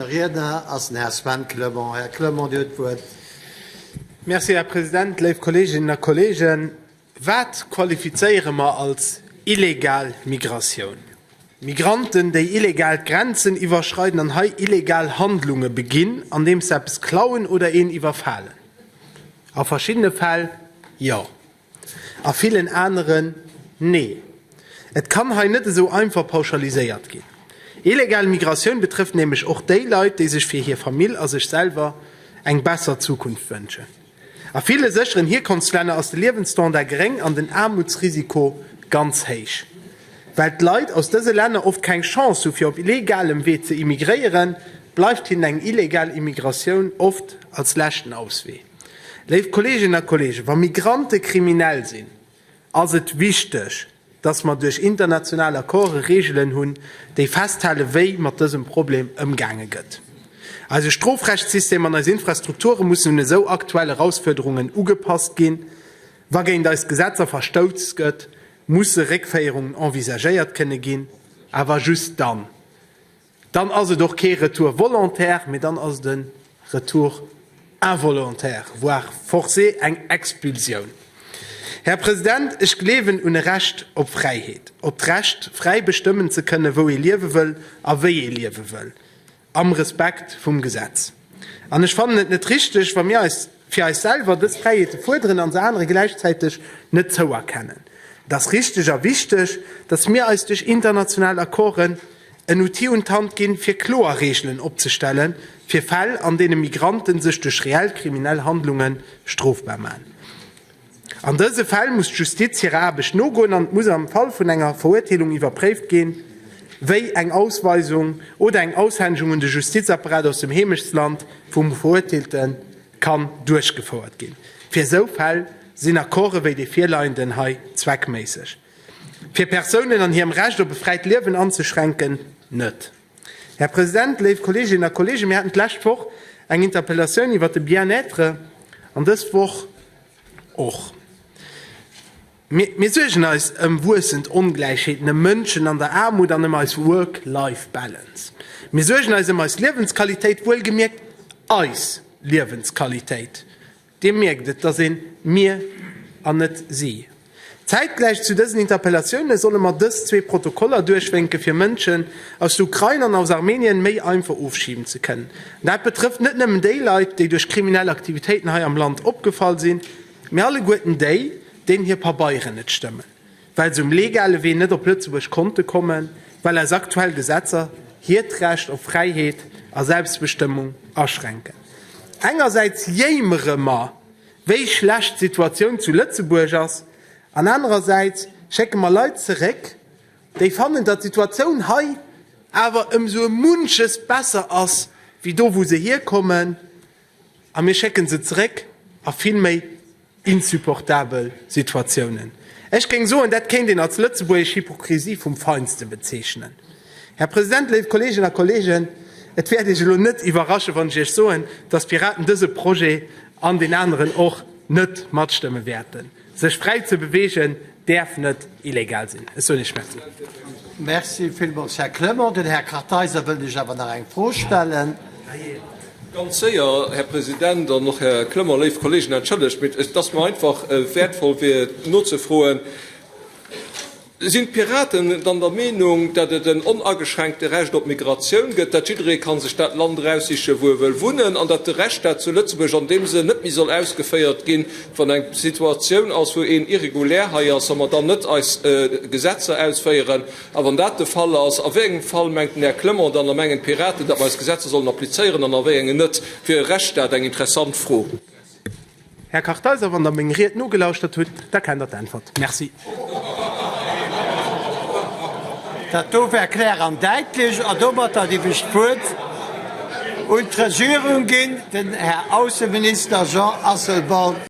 Riedner ass den Här Sven Clement. Här Clement, Dir huet d'Wuert. Merci, Här President. Léif Kolleeginnen a Kolleegen, wat qualifizéiere mer als illegal Migratioun? Migranten, déi illegal d'Grenzen iwwerschreiden an hei illegal Handlunge beginn, andeems se eppes klauen oder een iwwerfalen? A verschiddene Fäll jo. a villen aneren nee. Et kann hei net esou einfach pauschaliséiert ginn. Illegal Migratioun betrëfft nämlech och déi Leit, déi sech fir hir Famill a sech selwer eng besser Zukunft wënschen. A ville sécheren Hierkonftslänner ass de Liewensstandard geréng an den Aarmutsrisiko ganz héich. Well d'Leit aus dëse Länner oft keng Chance hu fir op legalem Wee ze immigréieren, bleift hinnen eng illegal Immigratioun oft als leschten Auswee. Léif Kolleeginnen a Kolleegen, wa Migrante kriminell sinn, ass et wichteg, dass mer duerch international Accorde Reegelen hunn, déi festhalen, wéi mat dësem Problem ëmgaange gëtt. Eise Strofrechtssystem an eis Infrastrukture mussen un esou aktuell Erausfuerderungen ugepasst ginn. Wa géint eis Gesetzer verstouss gëtt, musse Réckféierungen envisagéiert kënne ginn, awer just dann. Dann ass et och kee Retour volontaire, mee dann ass et e Retour involontaire, voire forcé, eng Expulsioun. Här President, ech gleewen un e Recht op Fräiheet, op d'Recht, fräi bestëmmen ze kënnen, wou ee liewe wëll a wéi ee liewe wëll, am Respekt vum Gesetz. An ech fannen et net richteg, wa mir eis fir eis selwer dës Fräiheete fuerderen an se anere gläichzäiteg net zouerkennen. Et ass richteg a wichteg, datt mir eis duerch international Accorden en Outil un d'Hand ginn, fir kloer Reegelen opzestellen, fir Fäll, an deene Migrante sech duerch reell kriminell Handlunge strofbar maachen. An dëse Fäll muss d'Justiz hirer Aarbecht nogoen an et muss am Fall vun enger Verurteelung iwwerpréift ginn, wéi eng Ausweisung oder eng Aushännegung un de Justizapparat aus dem Heemechtsland vum Verurteelte kann duerchgefouert ginn. Fir esou Fäll sinn Accorde wéi dee virleienden hei zweckméisseg. Fir Persounen an hirem Recht op e fräit Liewen anzeschränken, net. Här President, léif Kolleeginnen a Kolleegen, mir haten d'lescht Woch eng Interpellatioun iwwert de Bien-être an dës Woch och. Mir suergen eis ëm wuessend Ongläichheeten, ëm Mënschen an der Aarmut an ëm eis Work-Life Balance. Mir suergen eis ëm eis Liewensqualitéit, wuelgemierkt eis Liewensqualitéit. Dir mierkt, et ass een Mir an net Si. Zäitgläich zu dësen Interpellatiounen solle mer dës zwee Protokoller duerchwénke fir Mënschen aus der Ukrain an aus Armenien méi einfach ofschiben ze kënnen. An dat betrëfft net nëmmen déi Leit, déi duerch kriminell Aktivitéiten hei am Land opgefall sinn, mee alleguerten déi, deenen hir Pabeieren net stëmmen. well se um legale Wee net op Lëtzebuerg konnte kommen, well eis aktuell Gesetzer hiert Recht op Fräiheet a Selbstbestëmmung aschränken. Engersäits jéimere mer, wéi schlecht d'Situatioun zu Lëtzebuerg ass, an anerersäits schécke mer Leit zeréck, déi fannen, datt d'Situatioun hei awer ëmsou e munches besser ass wéi do, wou se hierkommen. A mir schécken se zeréck a vill méi insupportabel Situatiounen. Ech géing soen, dat kéint een als lëtzebuergesch Hypokrisie vum Feinsten bezeechnen. Här President, léif Kolleeginnen a Kolleegen, et wäert Iech elo net iwwerraschen, wann ech Iech soen, dass d'Piraten dese Projet an den aneren och net matstëmme wäerten. Sech fräi ze bewegen däerf net illegal sinn. Ech soen Iech Merci. Merci villmools, Här Clement. Den Här Kartheiser wëllt Iech awer nach eng Fro stellen. Ganz séier, Här President an och Här Clement. Léif Kolleegen, entschëllegt, mee et ass mir einfach wäertvoll, fir nozefroen, Sinn d'Piraten dann der Meenung, datt et en onageschränkte Recht op Migratioun gëtt, datt jidderee kann sech dat Land eraussichen, wou e wëll wunnen, an datt de Rechtsstaat zu Lëtzebuerg an deem Sënn net méi soll ausgeféiert ginn, wann eng Situatioun ass, wou een irregulär hei ass a mer dann net eis Gesetzer ausféieren? A wann dat de Fall ass, a wéi engem Fall mengt den Här Clement dann a mengen d'Piraten, datt mer eis Gesetzer sollen applizéieren an a wéi engen net? Fir e Rechtsstaat eng interessant Fro. Här Kartheiser, wann Der meng Ried nogelauschtert hutt, da kennt Der d'Äntwert. Merci. Dat do war klär an daitlech. An domatter géif ech d'Wuert un d'Regierung ginn, den Här Ausseminister Jean Asselborn.